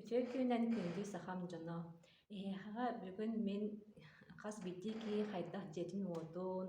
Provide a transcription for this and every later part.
Үтүө күнүнэн күндү сахам дьоно! Эһиэхэҕэ бүгүн мин хас биирдии киһи хайдах дьиэтин-уотун,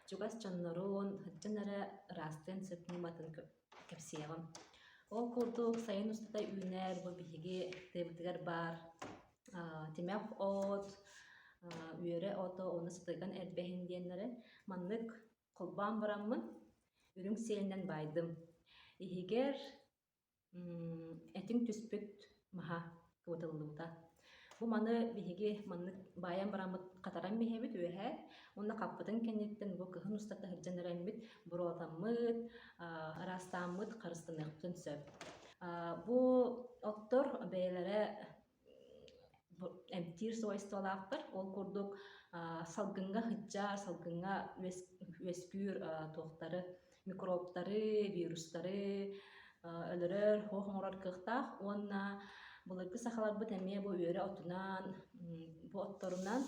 чугас дьоннорун, сылдьан эрэ ыраастыан сытыныбатын кэпсиэҕим. Ол курдук сайын устата үүнэр бу биһиги тыабытыгар баар тимэх от, үөрэ ото уонна сытыган эрбэһин диэннэри маннык холбоон бараммын, үрүҥ сиэнинэн баайдым. Иһигэр Этиҥ түспүт маһа кыбытыллыбыта. Бу маны биһиги маннык баайан бараммыт хатаран биһиэбит үөһэ уонна хаппытын кэнниттэн бу кыһын устата сылдьан эрэйммит, буруотаммыт, аа, ыраастааммыт харыстаныахпытын сөп. Аа, бу оттор бэйэлэрэ эмтиир сабайсыталаахтар ол курдук салгыҥҥа сыдьаар салгыҥҥа үөскүүр туохтары микробтары вирустары өлөрөр оһох оҥорор кыахтаах уонна былыргы сахаларбыт эмиэ бу үөрэ отунан бу отторунан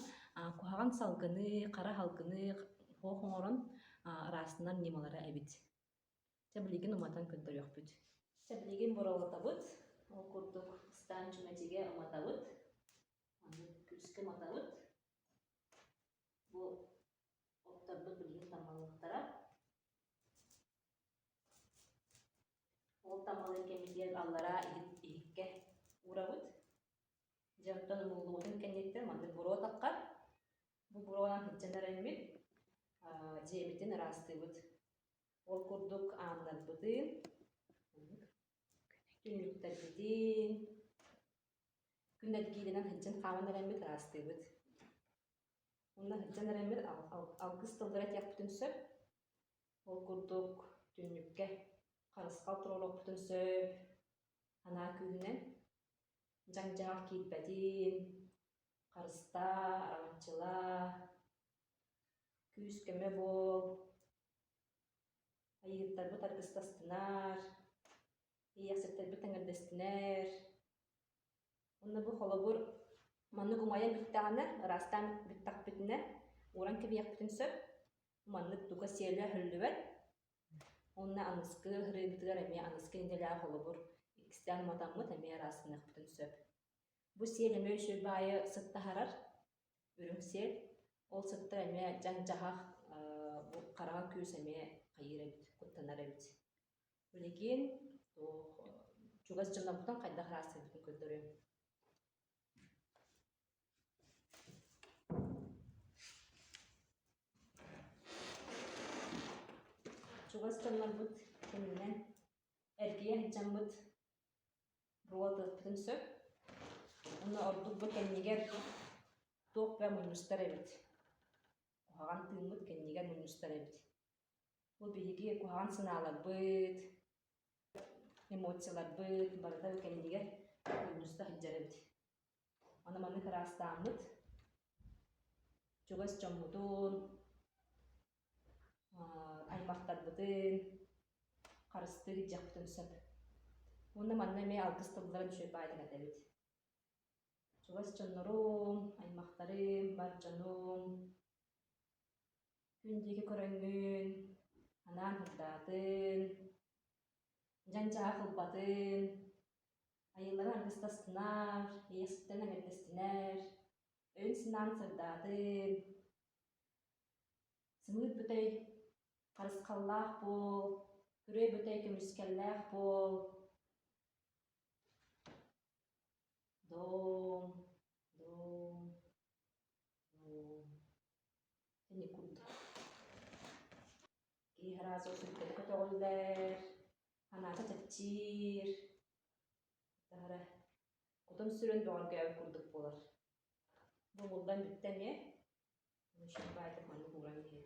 куһаҕан салгыны хара салгыны оһох оҥорон ыраастанар ньымалара эбит Чэ, билигин уматан көрдөрүөхпүт. Чэ, билигин буралатабыт. Ол курдук ыстаан чүмэчигэ уматабыт. Аны күүскэ уматабыт. Бу отторбут билигин тамалыахтара. Ол тамалын кэмитиэн аллараа иһиккэ уурабыт. Дьэ, оттон муулуутун кэнниттэн маннык буруо таххар. Бу буруонан сыдьан эрэммит, дьиэбитин ыраастыыбыт. Ол курдук ааннарбытын, түннүктэрбитин, күн эргииринэн сылдьан хааман эрэммит ыраастыыбыт. Онно сылдьан эрэммит алгыс тыллара этиэхпитин сөп. Ол курдук түннүккэ харысхал туруоруохпутун сөп. Анаа күүһүнэн дьаҥ-дьаҕах киирбэтин, харыстаа, араҥаччылаа, күүс-көмө буол, Айыыттарбыт аргыстастынар, иэхситтэрбит тэҥирдэстинэр. Уонна бу холобур маннык умайан бүттэҕинэ, ыраастаан бүттэхпитинэ, ууран кэбиэхпитин сөп. Маннык туга сиэлэ өһүллүбэт. Уонна аныскы ырыынбытыгар эмиэ аныскы идэлээх холобур иккистээн уматаммыт эмиэ ыраастаныахпытын сөп. Бу сиэл эмиэ үчүгэй баайы сыттаһарар. Үрүҥсиэл ол сытта эмиэ дьаҥ-дьаһах, хараҕа күүс эмиэ хайыыр эбит, куттанар эбит. Билигин чугас дьоноттон хайдах ыраастыырбытын көрдөрүөм чугас дьоннорбут кэннинэн эргийэ сылдьаммыт Роботатыын сөп. Уонна ордук бу кэннигэр туох да мунньустар эбит. Куһаҕан тыыммыт кэннигэр мунньустар эбит. Бу биһиги куһаҕан санааларбыт, эмоцияларбыт барыта кэннигэр мунньуста сылдьар эбит. Аны маннык ыраастааммыт чугас дьоммутун, аймахтарбытын харыстыыр илдьиэхпитин сөп. Уонна манна эмиэ алгыс тылларын үчүгэй баайдан этэбит. Чугас дьоннорум, аймахтарым, бар дьонум, күн диэки көрөҥҥүн анаан ырдаатын, дьандьаах ылбатын, Айыллара аргыстастынар, эйэстэн эҥэрдэстинэр, өйүн-санаан сырдаатын. Сымыыт бүтэй харысхаллаах буол, күрүө бүтэй көмүскэллээх буол. Доом, доом, доом. Тэникут. Киһи разу сүрдэри көтөҕүллэр, Анаата чэпчиир. Таһара кутум сүрүн бөҕөргөөбүт курдук буолар. Бу булдан бүттэ эмиэ. Еще байтик маннык ууран иһэбит.